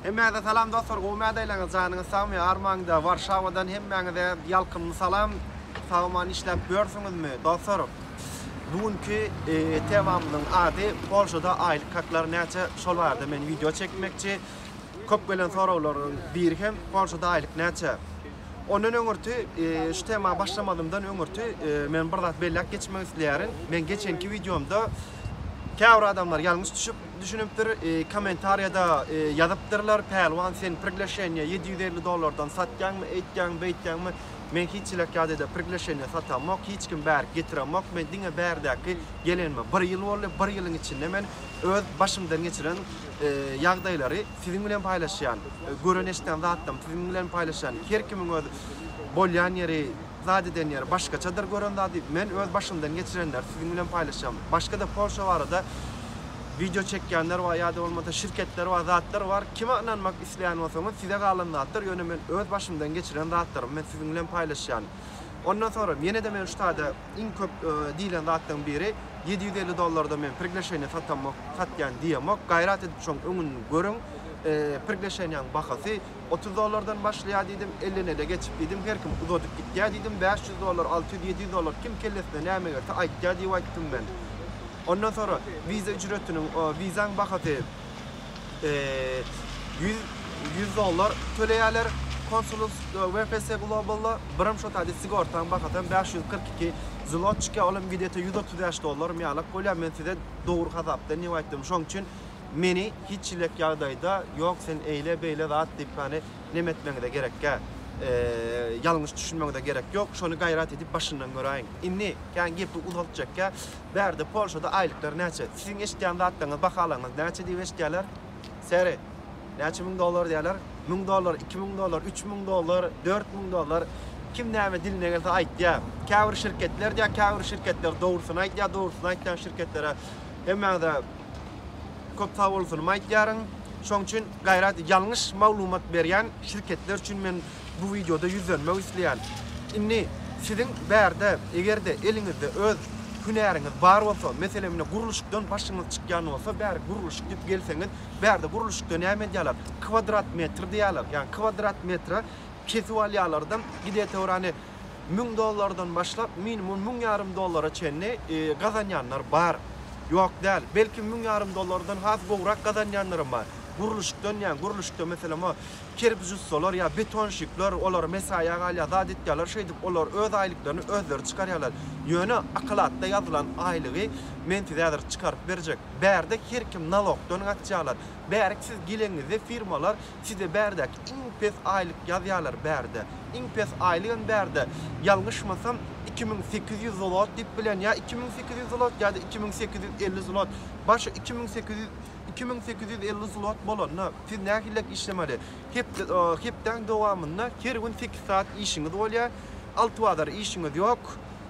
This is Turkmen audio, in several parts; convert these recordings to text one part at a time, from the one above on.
Hemmäňize salam dostlar gowy mädaylaňyz janyňyz sagmy armaňda warşawadan hemmäňize ýalkymly salam sag aman işläp ýörsüňizmi dostlar bu günki temamyzyň ady polşada aýlyk haklar näçe şol barada men wideo çekmekçi köp gelen soraglaryň biri hem polşada aýlyk näçe ondan öňürti şu tema başlamazymdan öňürti men bir zat belläp geçmek isleýärin men geçenki wideomda käbir adamlar ýalňyş düşüp Düşünipdir komentariýada ýazypdyrlar Pälwan sen prigleşeniýa ýedi ýüz elli dollardan satýaňmy eýtýäň beýtýäňmi men hiç ilekýadede prigleşeniýa satamok hiç kim bärik getiremok men diňe bärdäki gelenime bir ýyl boldy bir ýylyň içinde men öz başymdan geçiren ýagdaýlary siziň bilen paýlaşýan gören eşden zatlarym siziň bilen paýlaşýan her kimiň öz bolýan ýeri Zat eden ýeri başgaçadyr gören zady. Men öz başymdan geçirenleri siziň bilen paýlaşýan. Başga-da Polşa barada wideo çekýänler bar ýa-da bolmasa şirketler bar, zatlar bar. Kime ynanmak isleýän bolsaňyz size galan zatdyr, ýöne men öz başymdan geçiren zatlarymy men siziň bilen paýlaşýan. Ondan soňra ýene-de men şu taýda iň köp diýlen zatlaryň biri ýedi ýüz elli dollarda men prigleşeniýa satamok, satýan diýemok. Gaýrat edip şoň öňüni görüň. Prigleşeniýaň bahasy Otuz dollardan başlaýar diýdim, elleneile geçip diýdim, her kim uzadyp gitýär diýdim, bäş ýüz dollar, alty ýüz, ýedi ýüz dollar kim kellesine näme gelse aýtýar diýip aýtdym men. Ondan soňra wiza ücretiniň, wizaň bahasy ýüz, ýüz dollar töleýärler konsulus WPS Globalda, birim şo taýda sigortaň bahasam bäş ýüz kyrk iki zlot çykýar, olam gidete ýüz otuz bäş dollarmy ýalak bolýar, men size dogry hasapdan diýip aýtdym, şoň üçin Meni hiç ilek ýagdaýda ýok sen eýle beýle zat diýip hany nem etmeňize gerekgä. Ýalňyş düşünmeňize gerek ýok şony gaýrat edip başyndan göräýiň. Indi kän gepi uzaltjakgä bärde polşada aýlyklar näçe? Siziň eşitýän zatlaryňyz bahalaňyz näçe diýip eşitýäler? Seri. Näçe müň dollar diýäler? Müň dollar, iki müň dollar, üç müň dollar, dört müň dollar. Kim näme diline gelse aýtýa. Käbir şirketler diýä käbir şirketler dogrusyny aýdýa dogrusyny aýtýan şirketlere hemmäňize Köp sag bolsun aýtýaryn. Şoň üçin gaýrat ýalňyş maglumat berýän şirketler üçin men bu wideoda ýüzlenmek isleýän. Indi siziň bärde egerde eliňizde öz hünäriňiz bar bolsa, meselem indi gurluşykdan başyňyz çykýan bolsa bäri gurluşyk diýip gelseňiz, bärde gurluşykda näme edýärler? Kwadrat metr diýýärler. Ýagny kwadrat metre kesip alýarlardan gidetewrani müň dollardan başlap minimum müň ýarym dollara çenli gazanýanlar bar. Ýok däl. Belki müň ýarym dollardan has gowrak gazanýanlaram bar. Gurluşykdan diýýän, gurluşykda meselem o kerpiç ussalar ýa betonşikler, olar mesaýa galýar, zat etýärler, şeýdip olar öz aýlyklaryny özleri çykarýarlar. Ýöne akalatda ýazylan aýlygy men size häzir çykaryp berjek. Bärde her kim nalogdan gaçýarlar. Bärik siz geleňizde firmalar Size bärdäki iň pes aýlyk ýazýarlar bärde. Iň pes aýlygam bärde, ýalňyşmasam, iki müň sekiz ýüz zlot diýip bilen, ýa iki müň sekiz ýüz zlot, ýa-da iki müň sekiz ýüz elli zlot. Başy iki müň sekiz ýüz, iki müň sekiz ýüz elli zlot bolanda, siz nähiliräk işlemeli? Hepde, hepdäň dowamynda her gün sekiz sagat işiňiz bolýar, alty bazar işiňiz ýok.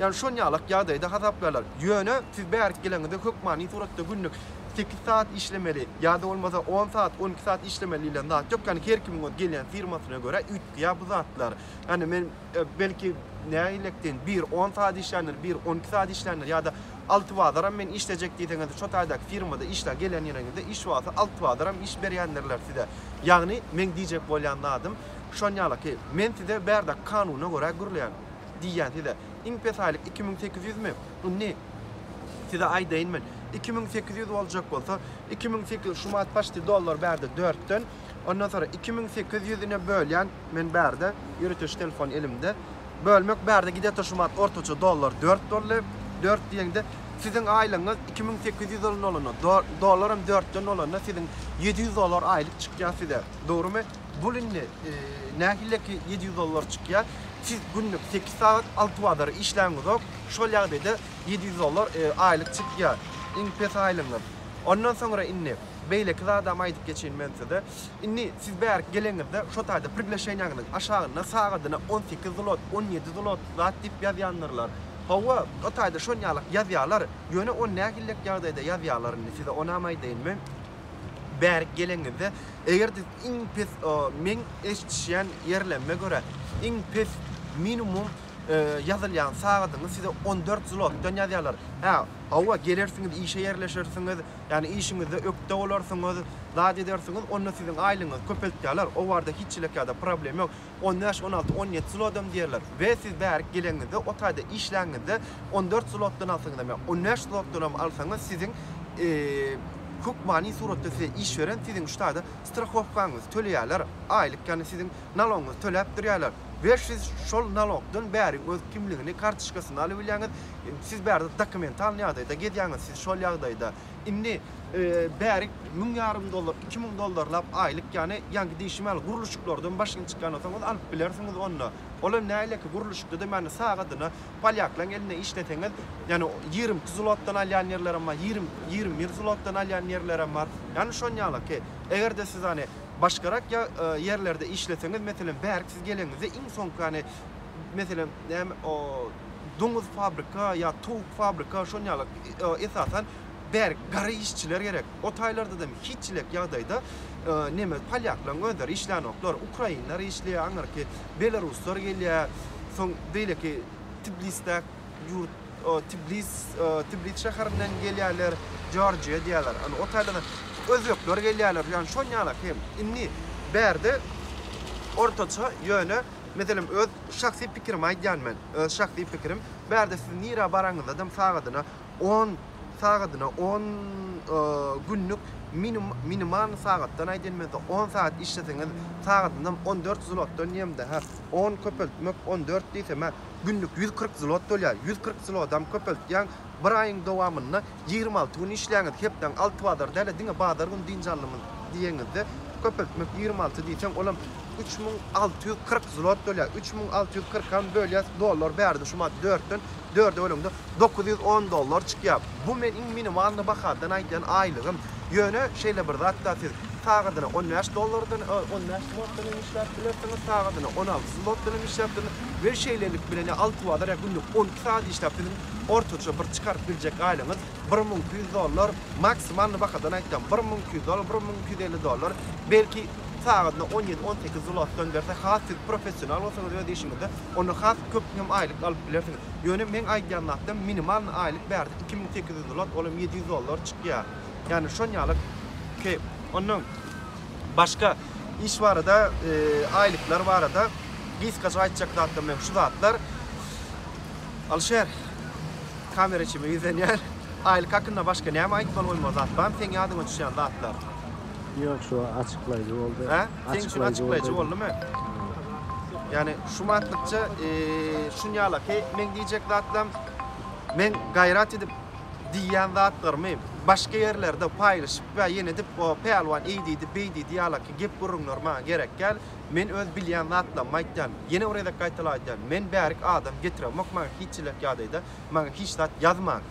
Ýagny şon ýalak ýagdaýda hasaplarlar. Ýöne siz bärik geleňizde hökmany suratda günlük sekiz saat işlemeli ýa-da bolmasa on saat, on iki saat işlemeli diýlen zat ýok. Ýagny her kimiň öz gelýän firmasyna görä üýtgeýär bu zatlar. Ýagny men belki nägilektn bir on saat işländir, bir on iki saat işländir ýa-da alty bazaram men işlejek diýseňiz şo taýdaky firmada işlä gelen ýeriňizde iş wagty alty bazaram iş berýändirler size. Ýagny meň diýjek bolýan zadym şon ýalaky. Men size bärde kanuna görä gürleýän. Diýýän size. Iň pes aýlyk iki müň sekiz ýüzmi? Indi size aýdaýyn men. Iki müň sekiz ýüz boljak bolsa, iki müň sekiz ýüz şu manat paçti dollar bärde dörtden. Ondan soňra iki müň sekiz ýüz ine bölýän men bärde. Ýöritiji telefon elimde. Bölmek bärde gidýärdi şu manat ortaça dollar dört boldy. Dört diýeňde siziň aýlygyňyz iki müň sekiz ýüz dollar bolanda, dollaram dörtden bolanda siziň ýedi ýüz dollar aýlyk çykýar size. Dogrumy? Bul indi nähili ki ýedi ýüz dollar çykýa. Siz günlük sekiz sagat alty bazar işläňizok. Şol ýagdaýda ýedi ýüz dollar aýlyk çykýa. Iň pes aýlygyňyz. Ondan soňra indi beýleki zadam aýdyp geçeýin men size. Indi siz bärik geleňizde şo taýda prigleşeniýaňyzyň aşagynda sagadyna on sekiz zlot, on ýedi zlot zat diýip ýazýandyrlar. Hawa, o taýda şonýalak ýazýalar. Ýöne ony nähili ýagdaýda ýazýalar indi size onam aýdaýyn men. bärik geleňizde eger siz iň pes meň eşdişýän ýerlemime görä iň pes minimum ýazylýan sagadyňyz size on dört zlotdan ýazýarlar hä hawa gelersiňiz işe ýerleşersiňiz ýagny işiňizde ökde bolarsyňyz zat edersiňiz onda siziň aýlygyňyzy köpeltýärler o barada hiç çilek ýa-da problem ýok On bäş, on alty, on ýedi zlodam diýerler. We siz bärik geleniňizde, o taýda işläňizde, on dört zlotdan alsaňyzam ýa on bäş zlotdanam alsaňyz, siziň hökmany suratda size iş beren, siziň şu taýda strahowkaňyzy töleýärler, aýlyk, ýagny siziň nalogyňyzy töläp durýarlar. We siz şol nalogdan bäriň öz kimligini, kartoçkasyny alybilýäňiz. Siz bärde dokumentalny ýagdaýda gezýäňiz, siz şol ýagdaýda. Indi bärik müň ýarym dollar, iki müň dollarlap aýlyk, ýagny ýaňky diýşim ýaly gurluşyklardan başyny çykýan bolsaňyz alyp bilersiňiz onda. Ol hem näleiki gurluşykda da ýagny sagadyna polýaklaryň elinde işleseňiz, ýagny ýigrimi iki zlotdan alýan ýerlerem bar, ýigrimi, ýigrimi bir zlotdan alýan ýerlerem bar. Ýagny şon ýalyky. Eger-de siz hany başgarak ýerlerde işleseňiz, meselem bärik siz gelenizde iň soňky hany meselem näme o, doňuz fabrika ýa towuk fabrika şon ýaly esasan bäri gara işçiler gerek o taýlardadam hiçilik ýagdaýda neme polýaklaň özleri işlänoklar ukrainler işleýär aňyrky belaruslar gelýär soň beýleki tiblisdäk ýurt tiblis tiblis şäherinden gelýärler jorjiýa diýýärler ony o taýlardan özbekler gelýärler ýagny şon ýaly hem indi bärde ortaça ýöne Meselem, öz şahsy pikirimi aýdýan men, öz şahsy pikirim. Bärde siz nirä baraňyzadam sagadyna on, sagadyna on günlük minum, minimalny sagatdan aýdýan men size, on sagat işleseňiz, sagadynam on dört zlotdan diýemde, hä, on köpeltmek on dört diýsem, hä, günlük ýüz kyrk zlot bolýar. Ýüz kyrk zlodam köpeltýäň, bir aýyň dowamynda Ýigrimi alty gün işläňiz, hepdäň alty bazary däl-de, diňe bazar güni dynç alymyz diýeniňizde, köpeltmek ýigrimi alty diýseň, olam üç müň alty ýüz kyrk zlot bölýär. Üç müň alty ýüz kyrkam bölýäs, dollar bärde şu maý dörtden dörde böleňde dokuz ýüz on dollar çykýar. Bu men iň minimalny bahadan aýdýan aýlygym. Ýöne şeýle bir zat-da siz sagadyna on bäş dollardan, on bäş zlotdan hem işläp bilersiňiz, sagadyna on alty zlotdan hem işläp bilersiňiz we şeýlelik bilen ýa alty bazar ýa günlük on iki sagat işläp siziň ortaça bir çykaryp biljek aýlygyňyz bir müň iki ýüz dollar, maksimalny bahadan aýtsam bir müň iki ýüz dollar, bir müň iki ýüz elli dollar, belki sagadyna on ýedi-on sekiz zlotdan berse has siz professional bolsaňyz öz işiňizde onda has köp hem aýlyk alyp bilersiňiz. Ýöne meň aýdýan zatym minimalny aýlyk bärde iki müň sekiz ýüz zlot olam ýedi ýüz dollar çykýar. Ýagny şon ýaly kep. Ondan başga iş barada aýlyklar barada gysgaça aýtjak zatlarym hem şu zatlar. Alişer, kamera çime ýüzlenýär. Aýlyk hakynda başga näme aýtmaly bolmaly zat barmy seň ýadyňa düşýän zatlar? Ýok şu açyklaýjy boldy. Hä? Seň üçin açyklaýjy boldumy? Ýani şu matlykça şunýalaky meň diýjek zatlam meň gaýrat edip diýýän zatlarymy başga ýerlerde paýlaşyp we ýene edip o pälwan eý diýdi beý diýdi ýalaky gep gürrüňler maňa gerek däl. Men öz bilýän zatlarymy aýtýan. Ýene bir gezek gaýtalaýdýan, men bärik adam getiremok maňa hiç çilek ýagdaýda maňa hiç zat ýazmaň.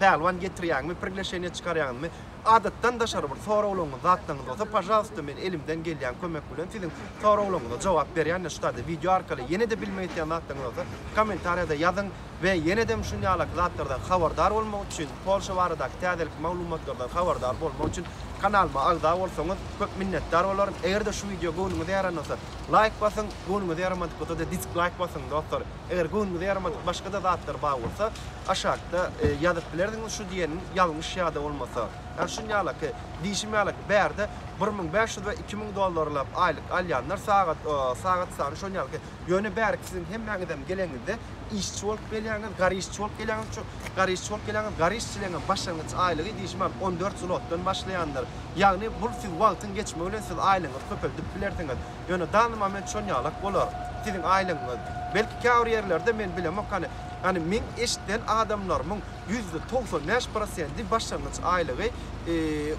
Pälwan getirýäňmi prigleşeniýe çykarýaňmy? Adatdan daşary bir soraglaryňyz zatlaryňyz bolsa pažalsta men elimden gelýän kömek bilen siziň soraglaryňyza jogap berýän şu taýda wideo arkaly ýene-de bilmek isleýän zatlaryňyz bolsa kommentariýada ýazyň. we ýenedem şun ýalaky zatlardan habardar bolmak üçin, Polşa baradaky täzelikli maglumatlardan habardar bolmak üçin kanalyma agza bolsaňyz köp minnetdar bolaryn. Eger-de şu wideo göwnüňize ýaran bolsa laýk basyň, göwnüňize ýaramadyk bolsa-da disklaýk basyň dostlar. Eger göwnüňize ýaramadyk başga-da zatlar bar bolsa aşakda ýazyp bilersiňiz şu diýeniň ýalňyş ýa-da bolmasa ýa şun ýalaky diýşim ýalyky bärde bir müň bäş ýüz we iki müň dollarlap aýlyk alýanlar sagat sagat sany şon ýalyky Ýöne bärik siziň hemmäňizem geleňizde işçi bolup gelýäňiz, gar işçi bolup gelýäňiz, ço, gar işçi bolup gelýäňiz, gar işçileňem başlangyç aýlygy diýşim bar, on dört zlotdan başlaýandyr. Ýagny bul siz wagtyň geçmegi bilen siz aýlygyňyzy köpeldip bilersiňiz. Ýöne dany moment şon ýalak bolar, siziň aýlygyňyz. Belki käbir ýerlerde men bilemok hany, hany meň eşiden adamlarymyň Ýüzde togsan bäş prosenti başlangyç aýlygy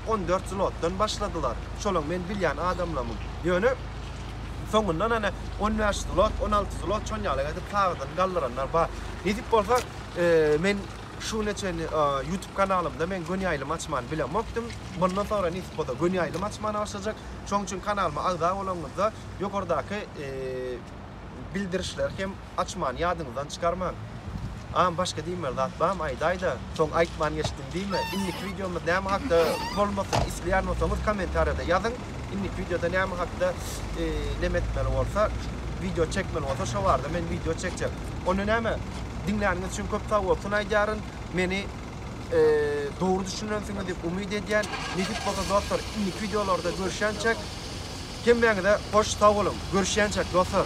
on dört zlotdan başladylar. Şolam men bilýän adamlamyň. Ýöne soňundan hany on bäş zlot, on alty zlot şon ýaly edip taýdan galdyranlar bar. Nesip bolsa men şuguna çenli YouTube kanalymda men göni ýaýlym açmany bilemokdym. Mundan soňra nesip bolsa göni ýaýlym açmana başlajak. Şoň üçin kanalyma agza bolanyňyzda ýokardaky bildirişleri hem açman, ýadyňyzdan çykarmaň. Agam başga diýmeli zat barmy aýdaýda, soň aýtman geçdim diýme. Indiki wideomyz näme hakda bolmasyn isleýän bolsaňyz kommentariýada ýazyň. Indiki wideoda näme hakda neme etmeli bolsa, wideo çekmeli bolsa şo barada men wideo çekjek. Onda näme, diňläniňiz üçin köp sagbolsun aýdýaryn. Meni dogry düşünensiňiz diýip umyt edýän. Nesip bolsa dostlar, indiki wideolarda görüşýänçäk. Hemmäňize hoş sag boluň. Görüşýänçäk dostlar.